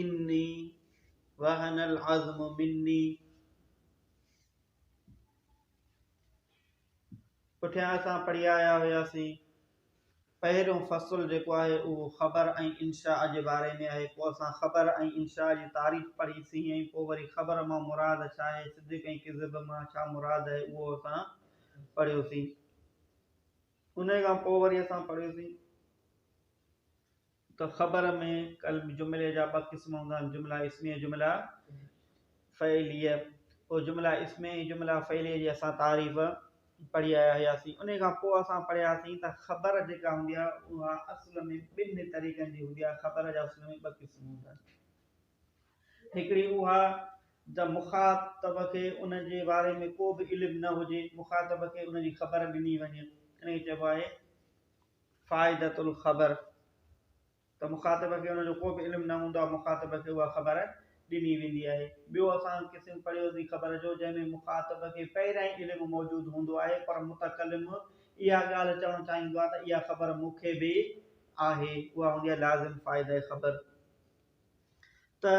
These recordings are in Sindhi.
اني وهن العزم مني پٺيان اسان پڙهي آيا هياسين پهريون فصل جيڪو آهي اهو خبر ۽ انشاء جي باري ۾ آهي پوء اسان خبر ۽ انشاء جي تعريف پڙهي سين ۽ پوء وري خبر مان مراد ڇا آهي صدق ۽ ڪذب مان ڇا مراد آهي اهو اسان پڙهيو سين انهيء کان پوء وري اسان پڙهيوسين ته خبر ۾ قلب جملي جا ٻه قسم هوندا آهن، جمله اسميه ۽ جمله فعليه. پوء جمله اسميه ۽ جمله فعليه جي اسان تعريف پڙهي آيا هياسين. انهيء کان پوء اسان پڙهياسين ته خبر جيڪا هوندي آهي، اها اصل ۾ ٻنهي طريقن جي هوندي آهي، خبر جا اصل ۾ ٻه قسم هوندا آهن. هڪڙي اها ته مخاطب کي ان جي باري ۾ ڪو به علم نه هجي، مخاطب کي ان جي خبر ڏني وڃي، ان کي چئبو آهي فائدة الخبر، ته مخاطب کي ان جو ڪو به علم نه هوندو آهي، مخاطب کي اها خبر ڏني ويندي آهي. ٻيو اسان قسم پڙهيو سين خبر جو، جنهن ۾ مخاطب کي پهريائين علم موجود هوندو آهي، پر متڪلم اها ڳالهه چوڻ چاهيندو آهي ته اها خبر مون کي به آهي، اها هوندي آهي لازم فائدة خبر. ته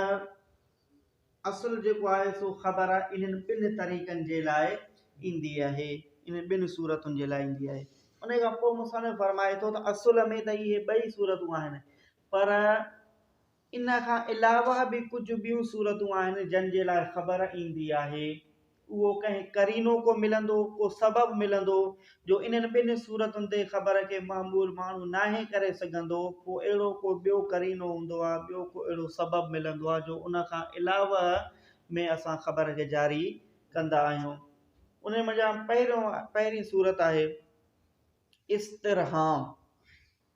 اصل جيڪو آهي سو خبر انهن ٻن طريقن جي لاء ايندي آهي انهن ٻن صورتن جي لاء ايندي آهي ان کان پوء مصنف فرمائي ٿو ته اصل ۾ ته اهي ٻئي صورتون آهن پر ان کان علاوه به ڪجهه ٻيون صورتون آهن جن جي لاء خبر ايندي آهي اهو ڪنهن قرينو ڪو ملندو، ڪو سبب ملندو، جو انهن ٻن صورتن تي خبر کي معمول ماڻهو ناهي ڪري سگهندو، پوء اهڙو ڪو ٻيو قرينو هوندو آ، ٻيو ڪو اهڙو سبب ملندو آ، جو ان کان علاوه ۾ اسان خبر کي جاري ڪندا آهيون. انهن منجهان پهريون، پهرين صورت آهي، استرهام.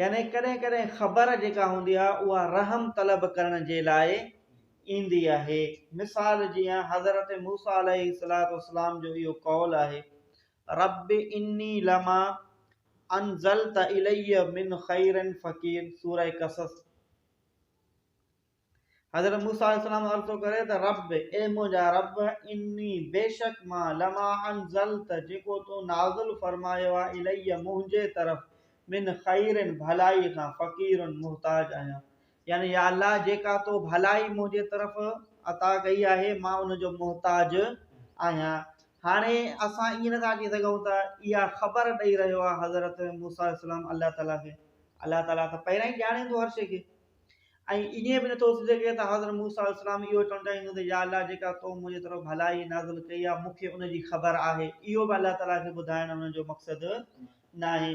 يعني ڪڏهن ڪڏهن خبر جيڪا هوندي آهي اها رحم طلب ڪرڻ جي لاء ايندي آهي. مثال جيان حضرت موسيٰ عليه السلام جو اهو قول آهي، رب اني لما انزلت الي من خير فقير، سورة قصص. حضرت موسيٰ عليه السلام عرض ٿو ڪري ته رب، اي منهنجا رب، اني، بيشڪ مان، لما انزلت، جيڪو تون نازل فرمايو آهي، الي، منهنجي طرف، من خير، ڀلائي کان، فقير، محتاج آهيان. يعني يا الله جيڪا تو ڀلائي منهنجي طرف عطا ڪئي آهي مان ان جو محتاج آهيان. هاڻي اسان ائين نٿا چئي سگهون ته اها خبر ڏئي رهيو آهي حضرت موسيٰ عليه السلام الله تعاليٰ کي، الله تعاليٰ ته پهريان ئي ڄاڻي ٿو هر شيء کي. ۽ ائين به نه ٿو ٿي سگهي ته حضرت موسيٰ عليه السلام اهو چوڻ چاهيندو هوندو ته يا الله جيڪا تو منهنجي طرف ڀلائي نازل ڪئي آهي مون کي ان جي خبر آهي. اهو به الله تعاليٰ کي ٻڌائڻ انهن جو مقصد ناهي.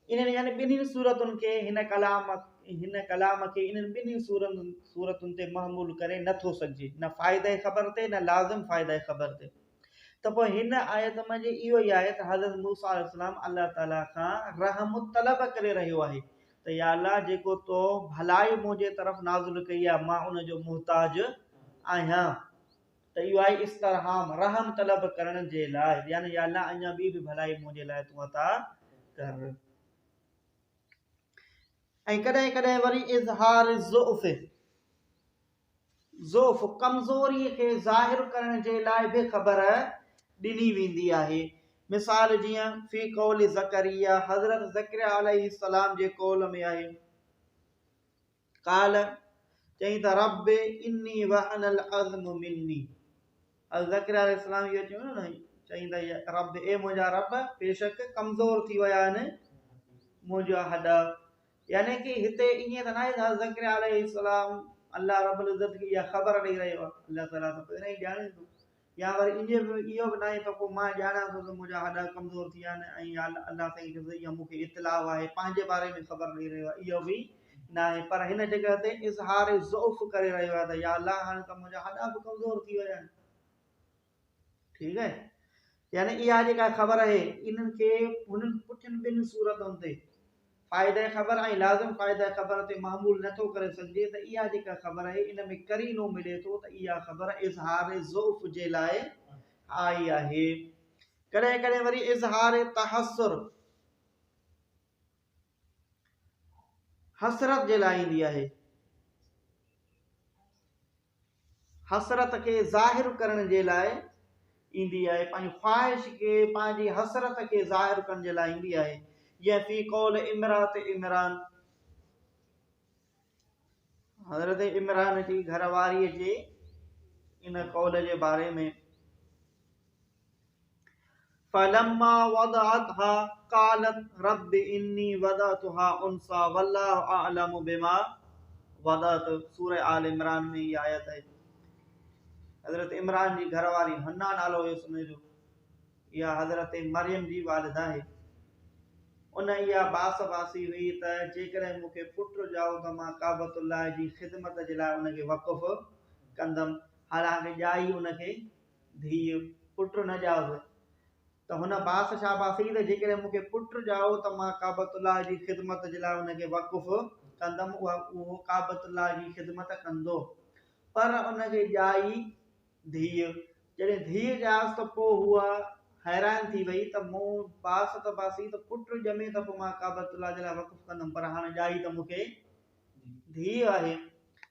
انهن يعني ٻنهي صورتن کي هن ڪلام هن ڪلام کي انهن ٻنهي صورتن تي محمول ڪري نه ٿو سگهجي، نه فائده خبر تي نه لازم فائده خبر تي. ته پوء هن آيت مان جي اهو ئي آهي ته حضرت موسيٰ عليه السلام الله تعاليٰ کان رحم طلب ڪري رهيو آهي ته يا الله جيڪو تو ڀلائي منهنجي طرف نازل ڪئي آهي مان ان جو محتاج آهيان ته اهو آهي استرحام رحم طلب ڪرڻ جي لاء يعني يا الله اڃا ٻي به ڀلائي منهنجي لاء تون عطا ڪر ۽ ڪڏهن ڪڏهن وري اظهار ضعف ضعف، ڪمزوريء کي ظاهر ڪرڻ جي لاء به خبر ڏني ويندي آهي. مثال جيئن، في قول زڪريا، حضرت زڪريا عليه السلام جي قول ۾ آهي، قال، چئي ته، ربّ انّي وهن العظم منّي. حضرت زڪريا عليه السلام اهو چيو نه، چئي ته، ربّ، اي منهنجا ربّ، بيشڪ ڪمزور ٿي ويا آهن منهنجا هڏا. يعني ڪي هتي ائين ته ناهي ته حضرت زڪريا عليه السلام الله رب العزت کي اها خبر ڏئي رهيو آهي، الله تعاليٰ ته پهريان ئي ڄاڻي ٿو، يا وري ائين به اهو به ناهي ته پوء مان ڄاڻان ٿو ته منهنجا هڏا ڪمزور ٿي ويا آهن ۽ يا الله سائين کي ته اها مون کي اطلاع آهي، پنهنجي باري ۾ خبر ڏئي رهيو آهي، اهو به ناهي، پر هن جڳهه تي اظهار ضعف ڪري رهيو آهي ته يا الله هاڻي ته منهنجا هڏا به ڪمزور ٿي ويا آهن. ٺيڪ آهي يعني اها جيڪا خبر آهي انهن کي هنن پٺين ٻن صورتن تي فائده خبر ۽ لازم فائده خبر تي معمول نه ٿو ڪري سگهجي ته اها جيڪا خبر آهي ان ۾ قرينو ملي ٿو ته اها خبر اظهار ضعف جي لاء آئي آهي ڪڏهن ڪڏهن وري اظهار تحسر حسرت جي لاء ايندي آهي حسرت کي ظاهر ڪرڻ جي لاء ايندي آهي، پنهنجي خواهش کي پنهنجي حسرت کي ظاهر ڪرڻ جي لاء ايندي آهي، جيئن في قول امرات عمران، حضرت عمران جي گهر واري جي ان قول جي باري ۾ فلما وضعتها قالت رب اني وضعتها انثى والله اعلم بما وضعت سوره آل عمران ۾ هي آيت آهي حضرت عمران جي گهر واري حنا نالو هيس ان جو اها حضرت مريم جي والده آهي ان اها باس واسي هئي ته جيڪڏهن مون کي پٽ ڄائو ته مان ڪعبت الله جي خدمت جي لاء ان کي وقف ڪندم حالانڪ ڄائي ان کي ڌيء، پٽ نه ڄائو ته هن باس شاباسي ته جيڪڏهن مون کي پٽ ڄائو ته مان ڪعبت الله جي خدمت جي لاء ان کي وقف ڪندم اها اهو ڪعبت الله جي خدمت ڪندو پر ان کي ڄائي ڌيء جڏهن ڌيء ڄائس ته پوء هوء حيران ٿي وئي ته مون باس ته باسي ته پٽ ڄمي ته پوء مان ڪعبت الله جي لاء وقف ڪندم پر هاڻ ڄائي ته مون کي ڌيء آهي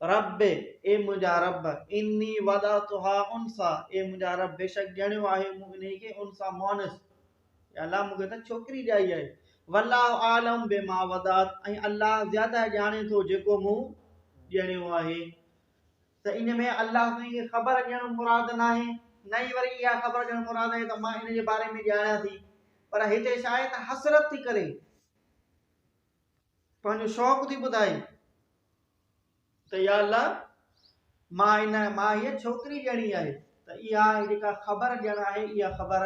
ربّ، اي منهنجا ربّ، اني وضعتها انثيٰ، اي منهنجا ربّ، بيشڪ ڄڻيو آهي مون انهيء کي انثيٰ، مؤنث، اي الله مون کي ته ڇوڪري ڄائي آهي، والله اعلم بما وضعت، ۽ الله زياده ڄاڻي ٿو جيڪو مون ڄڻيو آهي. ته ان ۾ الله سائين کي خبر ڏيڻ مراد ناهي، نه ئي وري اها خبر ڏيڻ مراد آهي ته مان ان جي باري ۾ ڄاڻيان ٿي، پر هتي ڇا آهي ته حسرت ٿي ڪري، پنهنجو شوق ٿي ٻڌائي ته يا الله مان ان مان هيء ڇوڪري ڏيڻي آهي ته اها جيڪا خبر ڏيڻ آهي اها خبر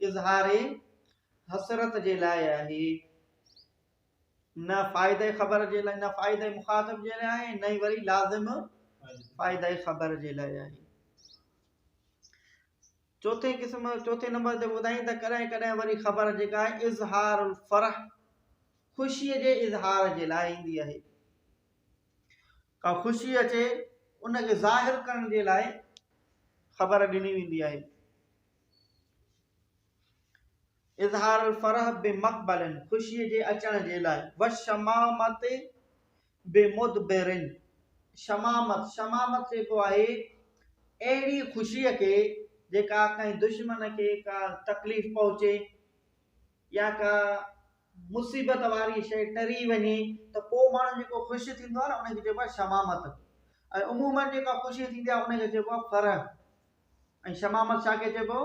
اظهار حسرت جي لاء آهي نه فائدي خبر جي لاء نه فائدي مخاطب جي لاء آهي نه وري لازم فائدي خبر جي لاء آهي چوٿين قسم چوٿين نمبر تي ٻڌائين ته ڪڏهن ڪڏهن وري خبر جيڪا آهي اظهار الفرح خوشي جي اظهار جي لاء ايندي آهي ڪا خوشي اچي ان کي ظاهر ڪرڻ جي لاء خبر ڏني ويندي آهي اظهار الفرح بمقبلن خوشي جي اچڻ جي لاء وشمامت بمدبرن شمامت، شمامت چئبو آهي اهڙي خوشيء کي جيڪا ڪنهن دشمن کي ڪا تڪليف پهچي يا ڪا مصيبت واري شيء ٽري وڃي ته پوء ماڻهو جيڪو خوش ٿيندو آهي نه ان کي چئبو آهي شمامت ۽ عموماً جيڪا خوشي ٿيندي آهي ان کي چئبو آهي فرح ۽ شمامت ڇا کي چئبو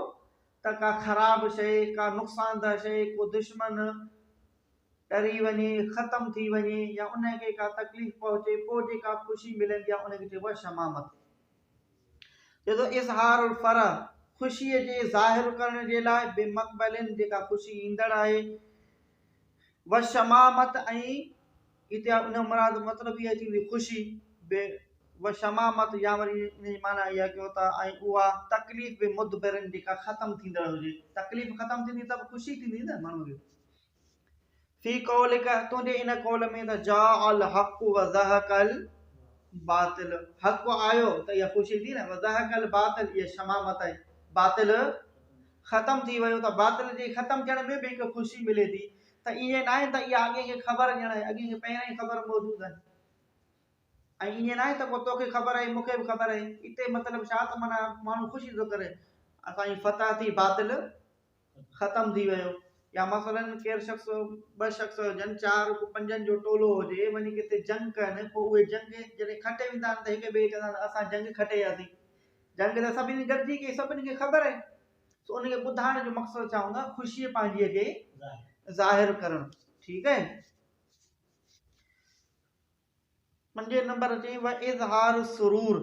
ته ڪا خراب شيء ڪا نقصان ده شيء ڪو دشمن ٽري وڃي، ختم ٿي وڃي يا انهيء کي ڪا تڪليف پهچي، پوء جيڪا خوشي ملندي آهي، ان کي چئبو آهي شمامت. چئي ٿو، اظهار الفرح، خوشيء جي ظاهر ڪرڻ جي لاء، بمقبل، جيڪا خوشي ايندڙ آهي. وشمامت، ۽ هتي ان جو مراد مطلب اها ٿيندي خوشي، به وشمامت، يا وري ان جي معنيٰ اها ڪيو ته، ۽ اها تڪليف، بمدبر، جيڪا ختم ٿيندڙ هجي. تڪليف ختم ٿيندي ته به خوشي ٿيندي نه ماڻهوء کي. في قولک، تنهنجي ان قول ۾ ته جاء الحق وزهق الباطل، حق آيو ته اها خوشي ٿي نه، وزهق الباطل اها شمامت آهي، باطل ختم ٿي ويو ته باطل جي ختم ٿيڻ ۾ به هڪ خوشي ملي ٿي ته ائين ناهي ته اها اڳي کي خبر ڄڻ آهي، اڳي کي پهريان ئي خبر موجود آهي. ۽ ائين ناهي ته پوء توکي خبر آهي مونکي به خبر آهي، اتي مطلب ڇا ته معنيٰ ماڻهو خوشي ٿو ڪري اسان جي فتح ٿي باطل ختم ٿي ويو يا مثلا ڪير شخص ٻه شخص هجن چار ڪو پنجن جو ٽولو هجي وڃي ڪٿي جنگ ڪن پوء اهي جنگ جڏهن کٽي ويندا آهن ته هڪ ٻئي کي چوندا آهن اسان جنگ کٽي اياسين جنگ ته سڀني گڏجي ڪئي سڀني کي خبر آهي سو ان کي ٻڌائڻ جو مقصد ڇا هوندو آهي خوشي پنهنجي کي ظاهر ڪرڻ ٺيڪ آهي پنجين نمبر چئي و اظهار سرور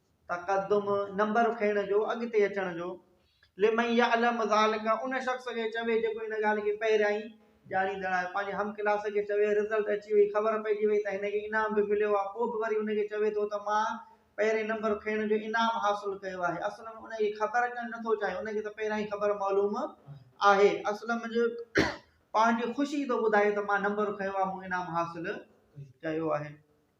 تقدم، نمبر کڻڻ جو، اڳتي اچڻ جو. لمن يعلم ذلک، ان شخص کي چوي جيڪو ان ڳالهه کي پهريائين ڄاڻيندڙ آهي. پنهنجي هم ڪلاس کي چوي رزلٽ اچي وئي، خبر پئجي وئي ته هن کي انعام به مليو آهي، پوء به وري ان کي چوي ٿو ته مان پهرين نمبر کڻڻ جو انعام حاصل ڪيو آهي. اصل ۾ ان کي خبر اچڻ نه ٿو چاهي، ان کي ته پهريائين خبر معلوم آهي. اصل ۾ پنهنجي خوشي ٿو ٻڌائي ته مان نمبر کنيو آهي، مون انعام حاصل ڪيو آهي.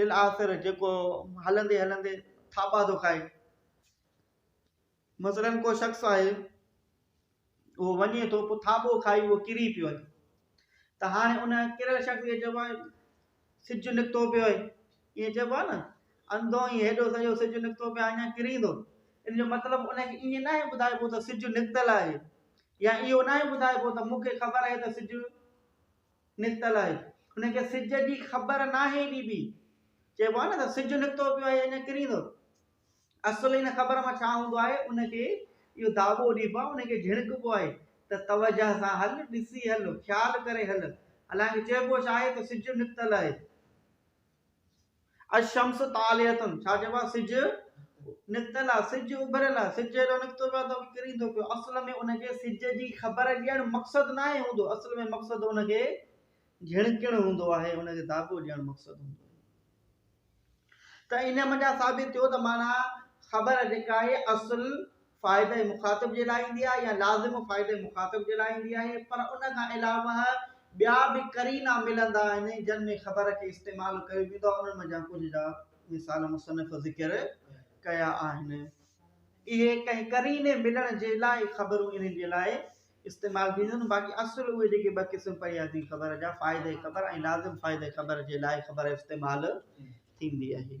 للآخر جيڪو هلندي هلندي ٿاٻا ٿو کائي. مثلاً ڪو شخص آهي اهو وڃي ٿو پوء ٿاٻو کائي اهو ڪري پيو وڃي ته هاڻي ان ڪريل شخص کي چئبو آهي سج نڪتو پيو آهي ائين چئبو آهي نه انڌو ائين هيڏو سڄو سج نڪتو پيو آهي اڃا ڪريندو ان جو مطلب ان کي ائين ناهي ٻڌائبو ته سج نڪتل آهي يا اهو ناهي ٻڌائبو ته مون کي خبر آهي ته سج نڪتل آهي ان کي سج جي خبر ناهي ڏبي چئبو آهي نه ته سج نڪتو پيو آهي اڃا ڪريندو اصل ان خبر مان ڇا هوندو آهي ان کي اهو داٻو ڏبو آهي ان کي جهڙڪبو آهي ته توجه سان هل ڏسي هل خيال ڪري هل حالانڪه چئبو ڇا آهي ته سج نڪتل آهي الشمس طالعه ڇا چئبو آهي سج نڪتل آهي سج اڀريل آهي سج هيڏو نڪتو پيو آهي ته ڪري ٿو پيو اصل ۾ ان کي سج جي خبر ڏيڻ مقصد ناهي هوندو اصل ۾ مقصد ان کي جھڻڪڻ هوندو آهي ان کي داغو ڏيڻ مقصد هوندو آهي ته ان منجهان ثابت ٿيو ته معنيٰ خبر جيڪا آهي اصل فائده مخاطب جي لاء ايندي آهي يا لازم فائده مخاطب جي لاء ايندي آهي پر ان کان علاوه ٻيا به قرينا ملندا آهن جن ۾ خبر کي استعمال ڪيو ويندو آهي انهن منجهان ڪجهه جا مثال مصنف ذڪر ڪيا آهن اهي ڪنهن قريني ملڻ جي لاء خبرون انهن جي لاء استعمال ٿينديون آهن باقي اصل اهي جيڪي ٻه قسم پيا ٿي خبر جا فائده خبر ۽ لازم فائده خبر جي لاء خبر استعمال ٿيندي آهي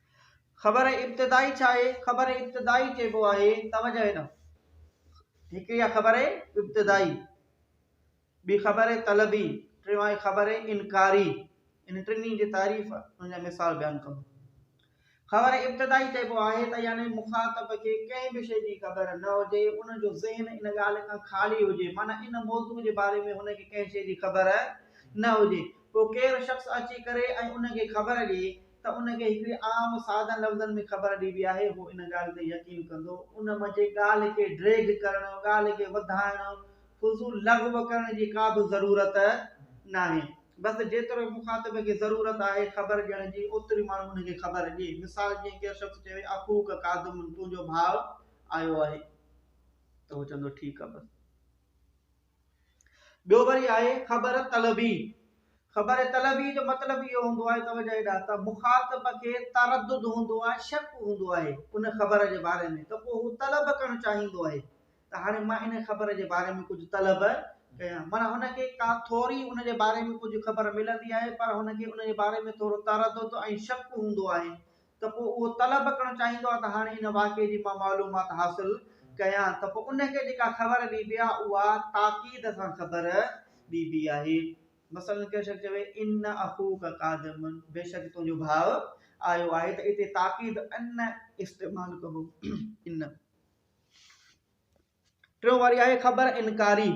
خبر ابتدائي ڇا آهي؟ خبر ابتدائي چئبو آهي توجه هنا هڪڙي آهي خبر ابتدائي ٻي خبر طلبي ٽيون آهي خبر انڪاري ان ٽنهي جي تعريف ان جا مثال بيان ڪندو خبر ابتدائي چئبو آهي ته يعني مخاطب کي ڪنهن به شيء جي خبر نه هجي ان جو ذهن ان ڳالهه کان خالي هجي معنيٰ ان موضوع جي باري ۾ هن کي ڪنهن شيء جي خبر نه هجي پوء ڪير شخص اچي ڪري ۽ ان کي خبر ڏئي ته ان کي هڪڙي عام سادن لفظن ۾ خبر ڏبي آهي هو ان ڳالهه تي يقين ڪندو ان منجهه ڳالهه کي ڊريگ ڪرڻ ڳالهه کي وڌائڻ فضول لغو ڪرڻ جي ڪا به ضرورت ناهي بس جيترو مخاطب کي ضرورت آهي خبر ڏيڻ جي اوتري ماڻهو ان کي خبر ڏي مثال جيئن ڪير شخص چوي اخوک قادم تنهنجو ڀاء آيو آهي ته هو چوندو ٺيڪ آهي بس. ٻيو وري آهي خبر طلبي، خبر طلبي جو مطلب اهو هوندو آهي توجه هيڏانهن ته مخاطب کي تردد هوندو آهي شڪ هوندو آهي ان خبر جي باري ۾ ته پوء هو طلب ڪرڻ چاهيندو آهي ته هاڻي مان ان خبر جي باري ۾ ڪجهه طلب ڪيان معنيٰ هن کي ڪا ٿوري ان جي باري ۾ ڪجهه خبر ملندي آهي پر هن کي ان جي باري ۾ ٿورو تردد ۽ شڪ هوندو آهي ته پوء اهو طلب ڪرڻ چاهيندو آهي ته هاڻي ان واقعي جي مان معلومات حاصل ڪيان ته پوء ان کي جيڪا خبر ڏبي آهي اها تاڪيد سان خبر ڏبي آهي. مثلاً ڪنهن شخص چوي ان اخوک قادم بيشڪ تنهنجو ڀاء آيو آهي ته اتي تاڪيد ان استعمال ڪبو. ان. ٽيون واري آهي خبر انڪاري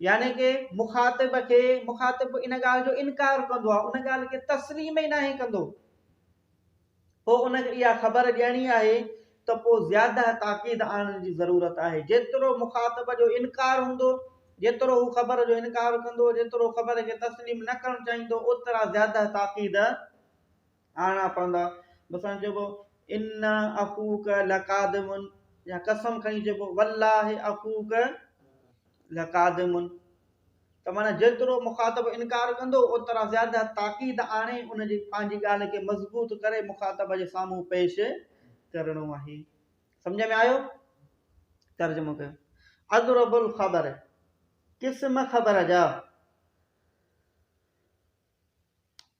يعني ڪي مخاطب کي مخاطب ان ڳالهه جو انڪار ڪندو آهي ان ڳالهه کي تسليم ئي ناهي ڪندو پوء ان کي اها خبر ڏيڻي آهي ته پوء زياده تاڪيد آڻڻ جي ضرورت آهي جيترو مخاطب جو انڪار هوندو جيترو هو خبر جو انڪار ڪندو جيترو خبر کي تسليم نه ڪرڻ چاهيندو اوترا زياده تاڪيد آڻا پوندا مثلا چئبو انا اخوک لقادمن يا قسم کڻي چئبو والله اخوک لقادمن ته مانا جيترو مخاطب انڪار ڪندو اوترا زياده تاڪيد آڻي ان جي پنهنجي ڳالهه کي مضبوط ڪري مخاطب جي سامهون پيش ڪرڻو آهي سمجھ ۾ آيو ترجمو ڪيو اضرب الخبر قسم خبر جا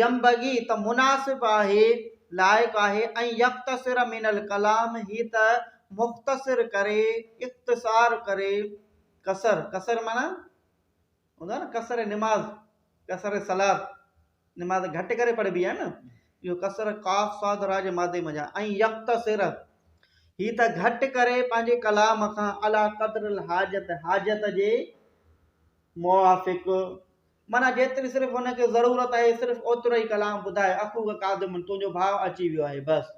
ينبغي ته مناسب آهي، لائق آهي ۽ يختصر من الڪلام هي ته مختصر ڪري، اختصار ڪري، قصر، قصر معنيٰ هوندو آهي نه قصر نماز، قصر الصلات، نماز گهٽ ڪري پڙهبي آهي نه، اهو قصر قاف صاد راء جي مادي منجهان ۽ يختصر هي ته گهٽ ڪري پنهنجي ڪلام کان عليٰ قدر الحاجت، حاجت جي موافق، معنيٰ جيتري صرف هن کي ضرورت آهي صرف اوترو ئي ڪلام ٻڌائي اخوک قادم تنهنجو ڀاء اچي ويو آهي بس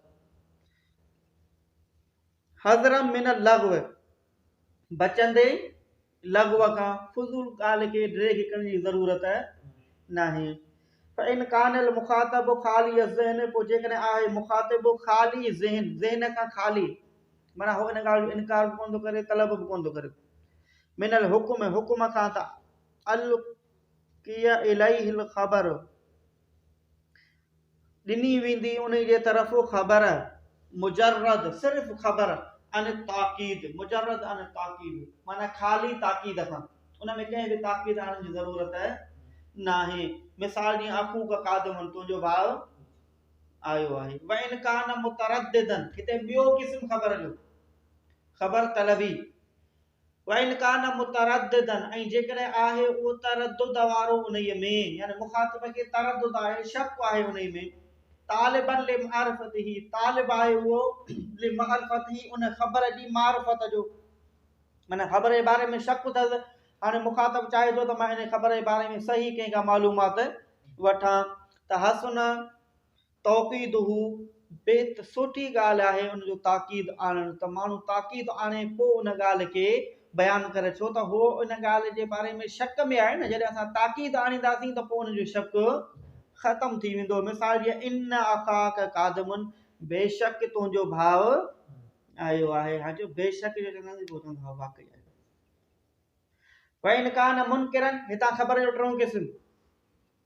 حضرم من اللغو بچندي لغو کان فضول ڳالهه کي ڊري کي ڪرڻ جي ضرورت ناهي فإن كان المخاطب خالي الذهن پوء جيڪڏهن آهي مخاطب خالي ذهن ذهن کان خالي معنی هو ان ڳالهه جو انڪار به ڪون ٿو ڪري طلب به ڪون ٿو ڪري من الحڪم حڪم کان ته القي اليه الخبر ڏني ويندي ان جي طرف خبر مجرد صرف خبر ان تاڪيد مجرد ان تاڪيد معنی خالي تاڪيد کان ان ۾ ڪنهن به تاڪيد آڻڻ جي ضرورت ناهي مثال جي اخو کا قادم تنهنجو ڀاء آيو آهي وان کان مترددن هتي ٻيو قسم خبر جو خبر طلبي وان ڪان مترددا ۽ جيڪڏهن آهي اهو تردد وارو انهيء ۾، يعني مخاطب کي تردد آهي، شڪ آهي انهيء ۾، طالبا لمعرفته، طالب آهي اهو لمعرفته، ان خبر جي معرفت جو، معنيٰ خبر جي باري ۾ شڪ اٿس، هاڻي مخاطب چاهي ٿو ته مان ان خبر جي باري ۾ صحيح ڪنهن کان معلومات وٺان ته حسن توقيده بيت سوٺي ڳالهه آهي ان جو تاڪيد آڻڻ ته ماڻهو تاڪيد آڻي پوء ان ڳالهه کي بيان ڪري ڇو ته هو ان ڳالهه جي باري ۾ شڪ ۾ آهي نه جڏهن اسان تاڪيد آڻينداسين ته پوء ان جو شڪ ختم ٿي ويندو مثال جيئن ان اخاڪ قادم بيشڪ تنهنجو ڀاء آيو آهي هاڻ جو بيشڪ جو چونداسين پوء تنهنجو ڀاء واقعي آيو وين ڪان منڪرن هتان خبر جو ٽيون قسم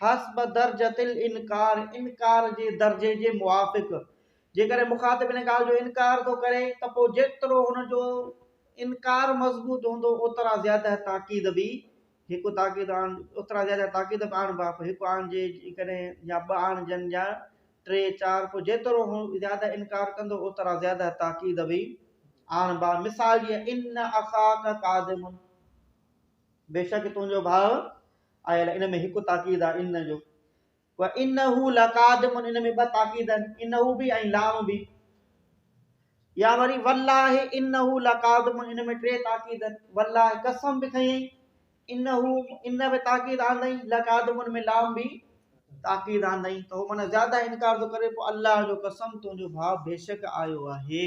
حسب درجة الانڪار، انڪار جي درجي جي موافق، جيڪڏهن مخاطب ان ڳالهه جو انڪار ٿو ڪري ته پوء جيترو هن جو انڪار مضبوط هوندو اوترا زياده تاڪيد به هڪ تاڪيد آڻ اوترا زياده تاڪيد به آڻبا پوء هڪ آڻجي جيڪڏهن يا ٻه آڻجن يا ٽي چار پوء جيترو هو زياده انڪار ڪندو اوترا زياده تاڪيد به آڻبا مثال جيئن ان اخاڪ قادم بيشڪ تنهنجو ڀاء آيل ان ۾ هڪ تاڪيد آهي ان جو وانه لقادم ان ۾ ٻه تاڪيد آهن انه به ۽ لام به يا وري والله انه لقادم ان ۾ ٽي تاڪيد آهن والله قسم به کئي انه ان به تاڪيد آندئي لقادم ان ۾ لام به تاڪيد آندئي ته هو معنی زياده انڪار ٿو ڪري پوء الله جو قسم تنهنجو ڀاء بيشڪ آيو آهي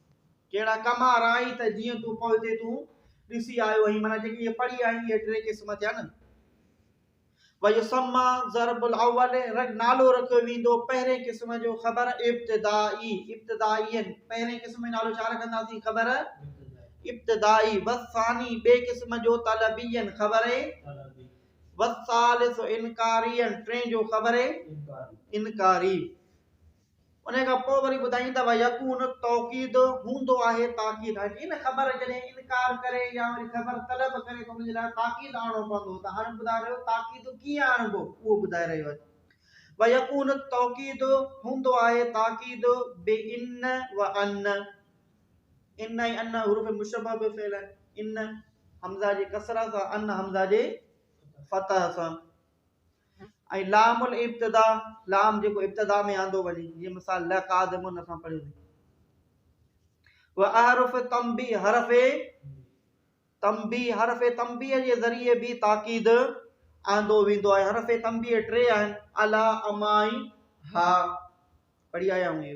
ڪهڙا ڪم آرائين ته جيئن تون پوئتي تون ڏسي آيو آهين معنيٰ جيڪي اهي پڙهي آهين اهي ٽي قسم ٿيا نه ويسما ضرب الاول رگ نالو رکيو ويندو پهرين قسم جو خبر ابتدائي ابتدائي پهرين قسم جو نالو ڇا رکنداسين خبر ابتدائي وثاني ٻي قسم جو طلبي خبر وثالث انڪاري ٽين جو خبر انڪاري انهيء کان پوء وري ٻڌائين ته ويڪون توڪيد هوندو آهي تاڪيد هاڻي ان خبر جڏهن انڪار ڪري يا وري خبر طلب ڪري ته ان جي لاء تاڪيد آڻڻو پوندو ته هاڻي ٻڌاء رهيو تاڪيد ڪيئن آڻبو اهو ٻڌائي رهيو آهي ويڪون توڪيد هوندو آهي تاڪيد بي ان و ان ان ۽ ان حروف مشبه به فعل آهن ان حمزه جي ڪسرا سان ان حمزه جي فتح سان ۽ لام الابتدا، لام جيڪو ابتدا ۾ آندو وڃي، جيئن مثال لقادمن اسان پڙهيو ٿي. واحرف تنبي حرف تنبي حرف تنبي جي ذريعي به تاڪيد آندو ويندو آهي حرف تنبي ٽي آهن الا امائي ها پڙهي آيا هونئي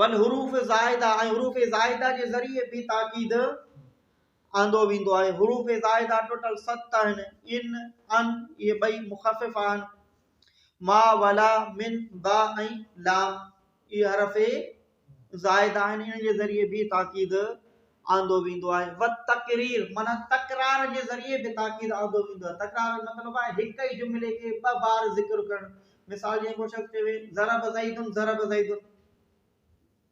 والحروف زائده ۽ حروف زائده جي ذريعي به تاڪيد آندو ويندو آهي حروف زائده ٽوٽل ست آهن ان ان اهي ٻئي مخفف آهن ما ولا من با ۽ لا اهي حرف زائده آهن ان جي ذريعي به تاڪيد آندو ويندو آهي و تقرير مانا تڪرار جي ذريعي به تاڪيد آندو ويندو آهي تڪرار مطلب آهي هڪ ئي جملي کي ٻه بار ذڪر ڪرڻ مثال جيئن ڪو شخص چوي ضرب زيد ضرب زيد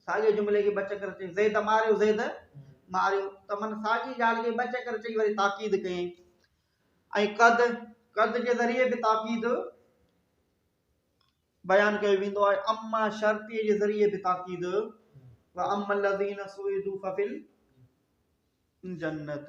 ساڳئي جملي کي ٻه چڪر چئي زيد ماريو زيد ماريو ته من ساڳي ڳالهه کي ٻه چڪر چئي وري تاڪيد ڪيائين ۽ قد قد جي ذريعي به تاڪيد بيان ڪيو ويندو آهي اما شرطي جي ذريعي به تاڪيد و اما الذين سعدوا ففل جنت